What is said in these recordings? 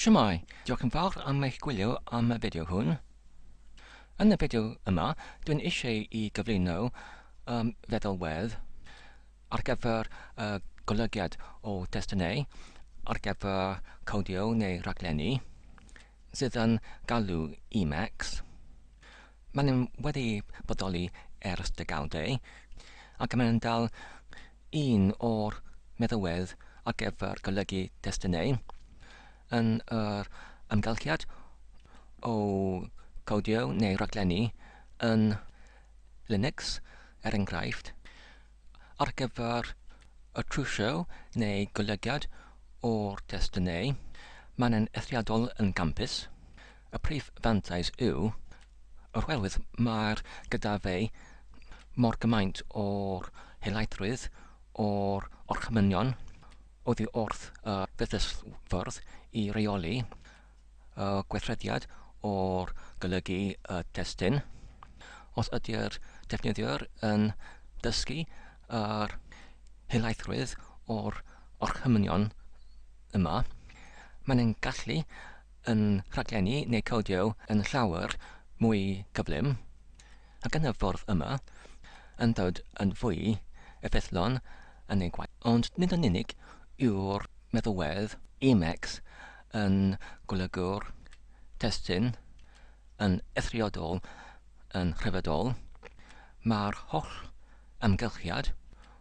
Shwmae, diolch yn fawr am eich gwylio am y fideo hwn. Yn y fideo yma, dwi'n eisiau i gyflwyno um, feddalwedd ar gyfer y golygiad o destunau ar gyfer codio neu raglenni sydd yn galw Emacs. Maen nhw wedi bodoli ers degawdau, ac maen nhw'n dal un o'r meddywedd ar gyfer golygu testunau yn yr amgylchiad o gowdio neu raglenni yn Linux, er enghraifft, ar gyfer y trwsio neu golygiad o'r testunau, maen nhw'n eithriadol yn gampus. Y prif fantais yw oherwydd mae'r gyda fe mor gymaint o'r helaethrwydd, o'r orchymynion oddi wrth y fetysfwrdd i reoli y gweithrediad o'r golygu y testun. Os ydy'r defnyddiwr yn dysgu yr helaethrwydd o'r orchymynion yma, mae'n gallu yn rhaglennu neu codio yn llawer mwy cyflym, ac yn y ffordd yma, yn dod yn fwy effeithlon yn eu gwaith. Ond nid yn unig yw'r meddalwedd Emacs yn golygu'r testun yn eithriadol yn rhyfeddol, mae'r holl amgylchiad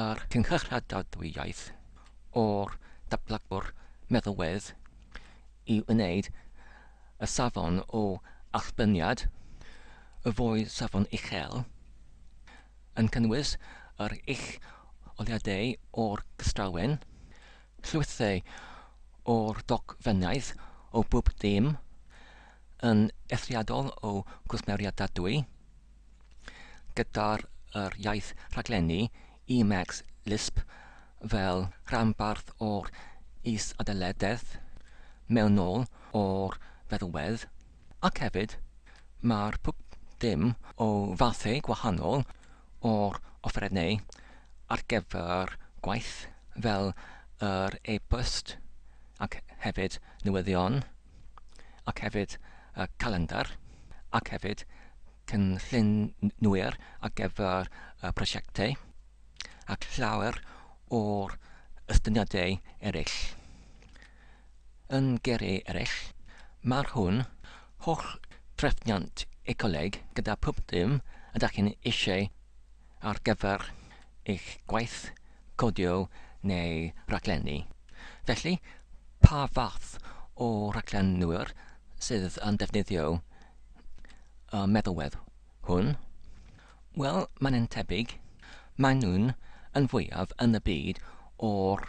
a'r cynghradadwyaeth o'r datblygwr meddalwedd i wneud y safon o allbyrniad, y fwy safon uchel, yn cynnwys yr ucholiadau o'r gystrawen, llwythau o'r dogfennaeth o bob dim, yn eithriadol o gwsmeriadadwy, gyda'r yr iaith rhaglenni Emacs Lisp fel rhanbarth o'r is-adeiladedd mewnol o'r feddwedd, ac hefyd mae'r pwp dim o fathau gwahanol o'r offerynnau ar gyfer gwaith fel yr e-bost ac hefyd newyddion. ac hefyd y calendr ac hefyd cynllunwyr ar gyfer y prosiectau ac llawer o'r estyniadau eraill. Yn geiriau eraill, mae'r hwn holl drefniant ecoleg gyda phub dim ydych chi'n eisiau ar gyfer eich gwaith codio neu raglenni, felly pa fath o raglenwyr sydd yn defnyddio y meddalwedd hwn? Wel, mae'n yn tebyg, maen nhw'n yn fwyaf yn y byd o'r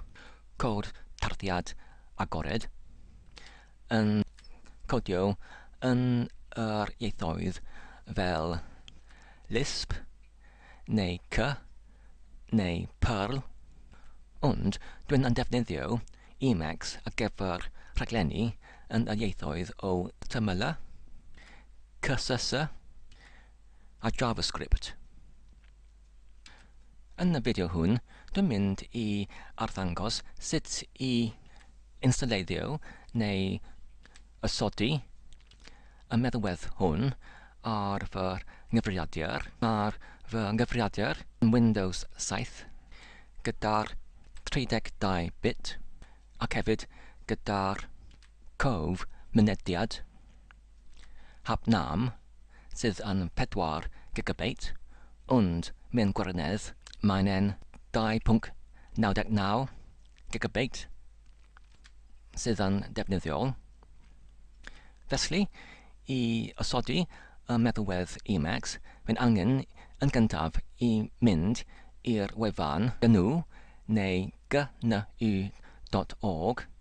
cod tarddiad agored. yn codio yn yr ieithoedd fel Lisp neu Cy neu Perl, ond dw i'n defnyddio Emacs ar gyfer rhaglenni yn yr ieithoedd o Tml, CSS a JavaScript. Yn y fideo hwn, dwi'n mynd i arddangos sut i installeiddio neu osodi y meddwedd hwn ar fy nghyfrifiadur. Mae'r fy nghyfrifiadur yn Windows 7 gyda'r 32 bit ac hefyd gyda'r cof mynediad. Hap Nam, sydd yn 4 gigabeit, ond mewn gwirionedd mae'n e'n 2.99 gigabeit sydd yn ddefnyddiol. Felly, i osodi y meddalwedd Emacs, mae'n angen yn gyntaf i mynd i'r wefan gnu neu gnu dot org,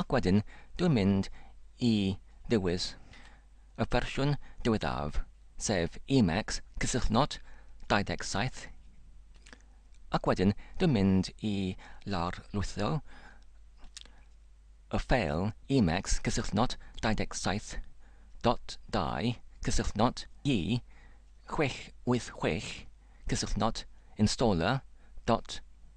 Ac wedyn dwi'n mynd i ddewis y fersiwn diweddaf, sef Emacs cysylltnod 27, ac wedyn dwi'n mynd i lawrlwytho y ffeil Emacs cysylltnod 27 dot dau cysylltnod i 686 cysylltnod installer dot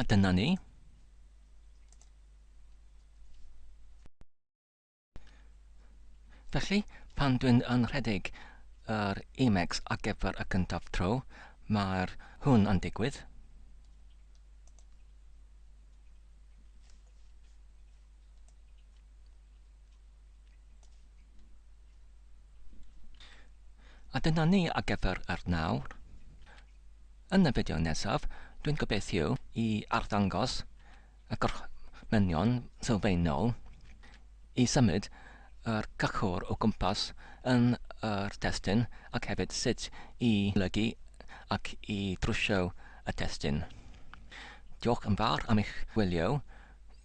A dyna ni. Felly, pan dwi'n anrhedeg yr Emacs ar gyfer y gyntaf tro, mae'r hwn yn digwydd. A dyna ni ar gyfer yr nawr. Yn y fideo nesaf, dwi'n gobeithio i arddangos y gorchmynion sylfaenol i symud yr cychwr o gwmpas yn yr testun ac hefyd sut i lygu ac i drwsio y testun. Diolch yn fawr am eich gwylio.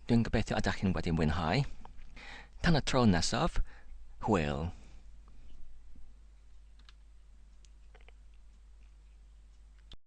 Dwi'n gobeithio y dach chi'n wedi mwynhau. Tan y tro nesaf, hwyl!